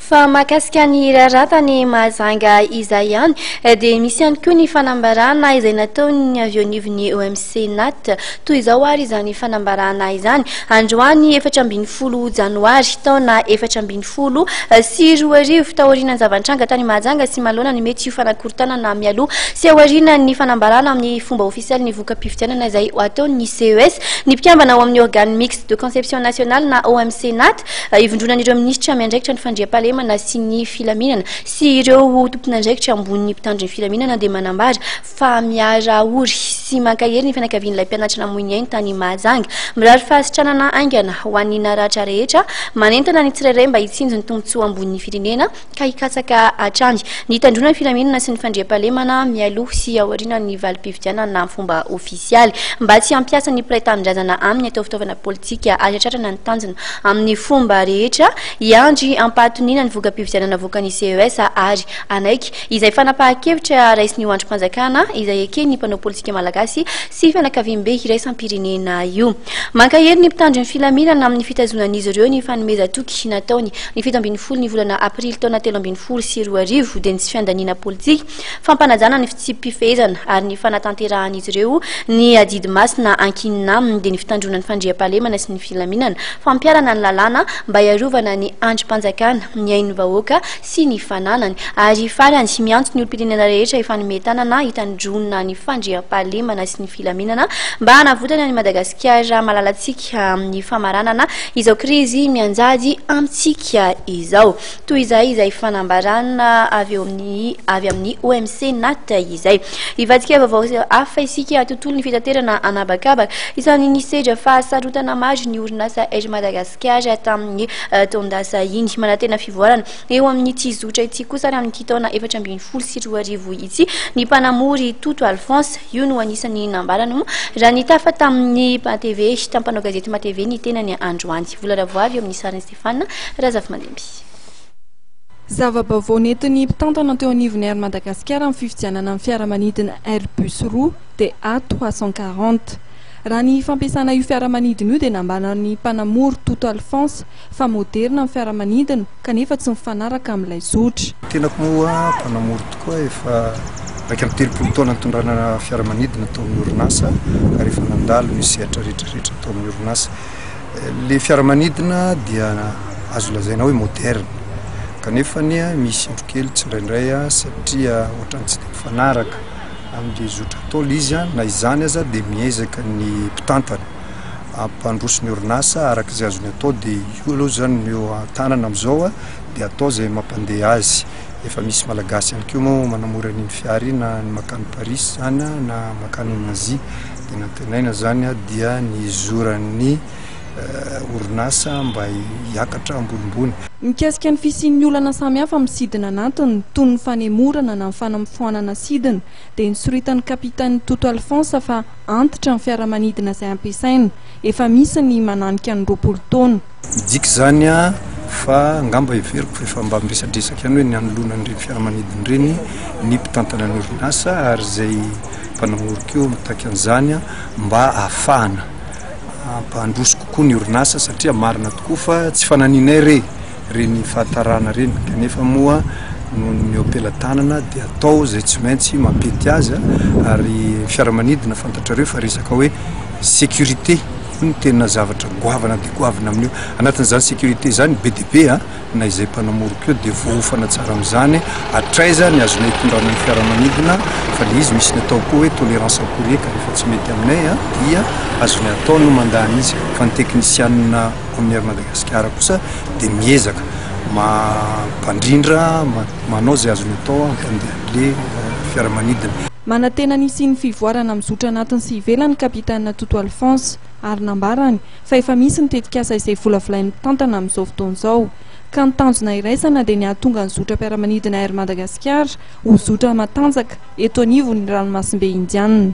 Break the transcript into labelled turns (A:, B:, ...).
A: Fa mahakasika ny raratany Mahajanga izay ihany dia misy ihany koa ny fanambarana izay nataon'ny avy eo anivon'ny OMC Nat. Toy izao ary izany fanambarana izany, androany efatra ambin'ny folo janoary, taona efatra ambin'ny folo sy roa arivo, taorian'ny zava-nitranga tany Mahajanga sy manoloana ny mety ho fanakorontanana mialoha sy aorianan'ny fanambarana amin'ny fomba ofisialy ny voka-pifidianana izay ho ataon'ny CES, ny mpikambana ao amin'ny Organe Mixte de Conception Nationale na OMC Nat. Ivondronan'ireo minisitra miandraikitra ny fandriampahalemana sy ny filaminana sy ireo tomponandraikitra ambonin'ny mpitandro ny filaminana dia manambara fa miara-ory sy mankahery ny fianakavian'ilay mpianatra namoy ny ainy tany Mahajanga. Mirary fahasitranana haingana ho an'ny naratra rehetra. Manentana ny tsirairay mba hitsinjo ny tombontsoa ambonin'ny firenena. ka hikatsaka hatrany ny hitandroana ny filaminana sy ny fandriampahalemana mialoha sy aorianan'ny valim-pifidianana amin'ny fomba ofisialy mba tsy hampiasa ny mpiray tanindrazana aminy atao fitaovana politika ary hatratrana ny tanjona amin'ny fomba rehetra hiandry ampahatoniana ny voka-pifidianana avoakan'ny CES ary hanaiky izay fanapahan-kevitra raisin'io andrim-panjakana izay eken'ny mpanao politika malagasy sy fianakaviambe iraisam-pirenena io. Mankahery ny mpitandro ny filaminana amin'ny fitazonan'izy ireo ny fanomezan-toky nataony ny fito ambin'ny folo ny volana aprily taona telo ambin'ny folo sy roa arivo dia ny tsy fiandaniana politika, fampanajana ny fitsipi-pifehezana ary ny fanatanterahan'izy ireo ny adidy masina ankinina aminy dia ny fitandroana ny fandriampahalemana sy ny filaminana, fampiharana ny lalàna mba hiarovana ny andrim-panjakana, ny ain'ny vahoaka sy ny fananany ary farany miantso ny olom-pirenena rehetra hifanome tanana hitandroana ny fandriampahalemana sy ny filaminana mba hanavotany an'i Madagasikara malalantsika amin'ny famaranana izao krizy mianjady amintsika izao. Toy izay izay fanambarana avy amin'ny avy amin'ny OMC Nat izay. Hivadika vaovao hafa isika tontolon'ny fitaterana anabakabaka. Isan'ny nisedra fahasarotana maro ny orinasa Air Madagasikara tamin'ny eh, taon-dasa iny. Manantena fivoarana Eo amin'ity zotra ity kosa ary amin'ity taona efatra ambin'ny folo sy roa arivo ity ny mpanamory Toto Alphonse. Io no anisan'ny nambarany moa raha nitafa tamin'ny matv, tamin'ny mpanao gazety matv ny tenany androany. Vola ravoavy eo amin'ny sarin'i Stéphane Razafimandimby. Zava-baovao
B: nentin'ny mpitantana teo anivon'ny Air Madagascar amin'ny fifidianana ny fiaramanidina Airbus roa DA trois cent quarante. Raha ny fampiasana io fiaramanidina io dia nambaran'ny mpanamory Toto Alphonse fa moderina ny fiaramanidina kanefa tsy mifanaraka amin'ilay zotra. Tenako moa
C: mpanamory tokoa, efa iraika amby telopolo taona nitondrana fiaramanidina tao amin'ny orinasa ary efa nandalo ny sehatra rehetra rehetra tao amin'ny orinasa. Ilay fiaramanidina dia azo lazaina hoe moderina kanefa anie misy indro kely tsindraindray satria ohatran'ny tsy dia mifanaraka amin'ilay zotra ntaolo izy, na izany aza dia miezaka ny mpitantana. hampandroso ny orinasa araka izay azony atao dia io aloha zany no eo an-tanana amin'izao a, dia atao izay mampandeha azy. Efa misy Malagasy ihany koa moa manamora an'iny fiara iny na ny mankany Paris izany a, na mankany en Asie. Dia ny antenaina zany a dia ny hizoran'ny orinasa mba hiakatra ambonimbony. Mikasika ny
B: fisian'ny olana samihafa amin'ny sidina anatiny toy ny fanemorana na ny fanafoanana sidina dia nisoritan'ny Kapitany Toto Alphonse fa, antitra ny fiaramanidina izay ampiasaina. Efa misy ny mananika ny roapolo taona. Midika izany
C: fa angamba heveriko fa efa mba miresadresaka ihany hoe ny hanoloana an'ireny fiaramanidina ireny ny mpitantana ny orinasa ary izay mpanamoro koa mitaky an'izany mba hahafahana hampandroso kokoa ny orinasa satria marina tokoa fa tsy fananianay re ireny fahatarana ireny kanefa moa noho ny eo am-pelatanana dia atao izay tsy maintsy mampety azy ary fiaramanidina fantatrareo fa resaka hoe sécurité io no tena zavatra goavana dia goavana amin'io anatin'izany sécurité izany be dia be a na izay mpanamoriko eo dia voaofana tsara amin'izany hatraiza ny azonay hitondrana ny fiaramanidina fa le izy misy ny atao koa hoe tolérance akory eka rehefa tsy mety aminay a dia azonay atao no mandany izy fa ny teknisianina Amin'ny Air Madagasikara kosa dia miezaka mampandrindra, manao izay azony atao hampandehan'ilay fiaramanidina. Manantena ny
B: hisian'ny fivoarana amin'ny zotra anatiny sy ivelany ny Kapitena Toto Alphonse ary nambarany fa efa misy ny tetikasa izay volavolain'ny mpitantana amin'izao fotoana izao ka ny tanjona iraisana dia ny hahatonga ny zotram-piaramanidina Air Madagasikara ho zotra matanjaka eto anivon'ny ranomasimbe Indianina.